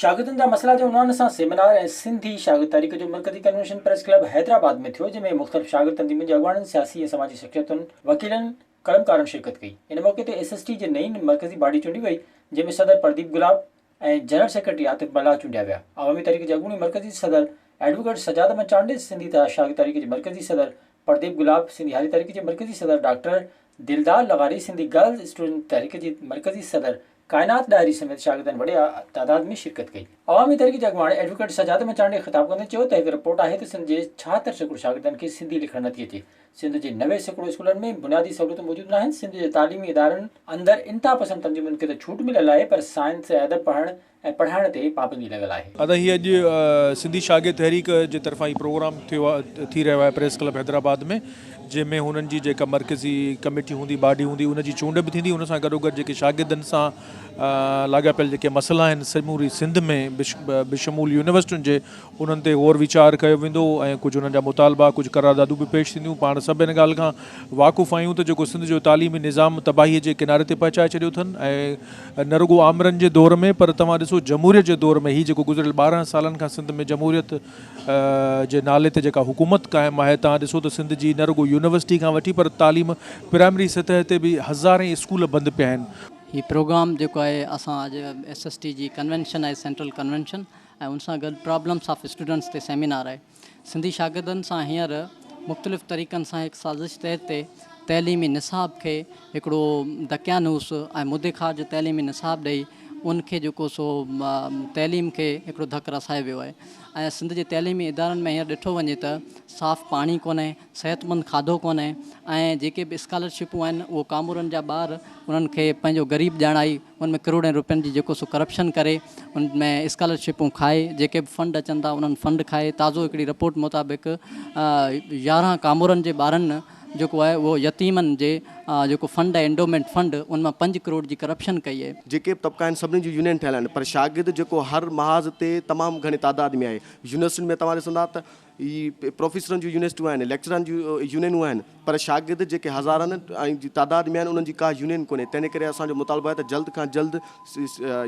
شاگردن جا مسئلا جي عنوان سان سيمينار ۽ سنڌي شاگرد تحريڪ جو مرڪزي ڪنوينشن پريس ڪلب حيدرآباد ۾ ٿيو جنهن ۾ مختلف شاگرد تنظيمن جي اڳواڻن سياسي ۽ سماجي شخصيتن وڪيلن قلمڪارن شرڪت ڪئي ان موقعي تي ايس ايس ٽي جي نئين مرڪزي باڊي چونڊي وئي جنهن ۾ صدر پرديپ گلاب ۽ جنرل سيڪريٽري عاطف ملاح چونڊيا ويا عوامي تحريڪ جي اڳوڻي مرڪزي صدر ايڊووڪيٽ سجاد احمد چانڊيس سنڌي شاگرد تحريڪ جي مرڪزي صدر پرديپ گلاب سنڌي هاري تحريڪ جي مرڪزي صدر ڊاڪٽر دلدار لغاري سنڌي گرلز اسٽوڊنٽ تحريڪ جي مرڪزي صدر ڪائنات ڏاهري سميت شاگردن وڏي تعداد ۾ شرڪت ڪئي عوامي تحريڪ جي اڳواڻ ايڊووڪيٽ سجاد مچانڊي خطاب ڪندي چيو ته هڪ رپورٽ آهي ته سنڌ جي ڇاهتر سيڪڙو شاگردن کي سنڌي لکڻ نٿي اچي سنڌ جي نوي سيڪڙو اسڪولن ۾ بنيادي سهولتون موجود ناهن سنڌ جي تعليمي ادارن اندر انتها پسند تنظيمن کي ته ڇوٽ مليل آهي پر سائنس ۽ ادب پڙهڻ ۽ پڙهائڻ تي پابندي لڳل آهي. ادا هي اڄ سنڌي شاگرد تحريڪ جي طرفان هي پروگرام ٿيو ٿي رهيو آهي پريس ڪلب حيدرآباد ۾ جنهن ۾ هنن جي جيڪا مرڪزي ڪميٽي هوندي باڊي هوندي ان جي چونڊ به ٿيندي ان سان گڏوگڏ جيڪي شاگردن سان لاڳاپيل جيڪي مسئلا آهن سموري سنڌ ۾ بشمول يونيورسٽين جي انهن تي غور ويچار ڪيو ويندو ۽ ڪجهه انهن جا مطالبا، ڪجهه قراردادون به پيش ٿينديون. پاڻ سڀ ان ڳالهه کان واقف آهيون ته جيڪو سنڌ جو تعليمي نظام تباهيء جي ڪناري تي پهچائي ڇڏيو اٿن ۽ نه رڳو آمرن جي دور ۾ پر توهان ڏسو جمهوريت جي دور ۾ هي جيڪو گذريل ٻارهن سالن کان سنڌ ۾ جمهوريت جي نالي تي جيڪا حڪومت قائم آهي توهان ڏسو ته سنڌ جي نه رڳو يونيورسٽي کان وٺي پر تعليم پرائمري سطح تي به هزارين اسڪول بند پيا آهن. هي پروگرام جيڪو آهي اسان اڄ ايس ايس ٽي جي ڪنوينشن آهي سينٽرل ڪنوينشن ۽ ان سان گڏ پرابلمس آف اسٽوڊنٽس تي سيمينار آهي. سنڌي شاگردن سان هينئر مختلف طريقن سان هڪ سازش تحت تي تعليمي نصاب کي هڪڙو دقيانوس ۽ مدي خار جو تعليمي نصاب ڏئي ان کي جيڪو سو تعليم کي هڪڙو ڌڪ رسايو ويو آهي ۽ سنڌ جي تعليمي ادارن ۾ هينئر ڏٺو وڃي ته صاف پاڻي ڪونهي، صحتمند کاڌو ڪونهي ۽ جيڪي به اسڪالرشپون آهن اهو ڪامورن جا ٻار انهن کي پنهنجو غريب ڄاڻائي ان ۾ ڪروڙين روپين جي جيڪو سو ڪرپشن ڪري ان ۾ اسڪالرشپون کائي جيڪي به فنڊ اچن ٿا انهن فنڊ کائي تازو هڪڙي رپورٽ مطابق يارهن ڪامورن جي ٻارن جيڪو آهي اهو يتيمن جي جيڪو فنڊ آهي انڊومينٽ فنڊ ان مان پنج ڪروڙ جي ڪرپشن ڪئي آهي. جيڪي به طبقا آهن سڀني جون يونين ٺهيل آهن پر شاگرد جيڪو هر محاذ تي تمام گهڻي تعداد ۾ آهي يونيورسٽين ۾ توهان ڏسندا ته هي پروفيسرن جون يونيسٽيون آهن، ليڪچرارن جون يونينون آهن، پر شاگرد جيڪي هزارن جي تعداد ۾ آهن، انهن جي ڪا يونين ڪونهي، تنهن ڪري اسان جو مطالبو آهي ته جلد کان جلد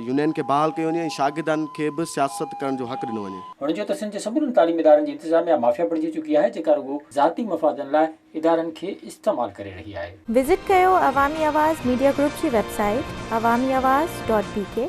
يونين کي بحال ڪيو وڃي ۽ شاگردان کي به سياست ڪرڻ جو حق ڏنو وڃي. هن چيو ته سنڌ جي سمورن تعليمي ادارن جي انتظاميا مافيا بڻجي چڪي آهي، جيڪا رڳو ذاتي مفادن لاء ادارن کي استعمال ڪري رهي آهي. وزٽ ڪيو عوامي آواز ميڊيا گروپ جي website Awami Awaz dot بي ڪي.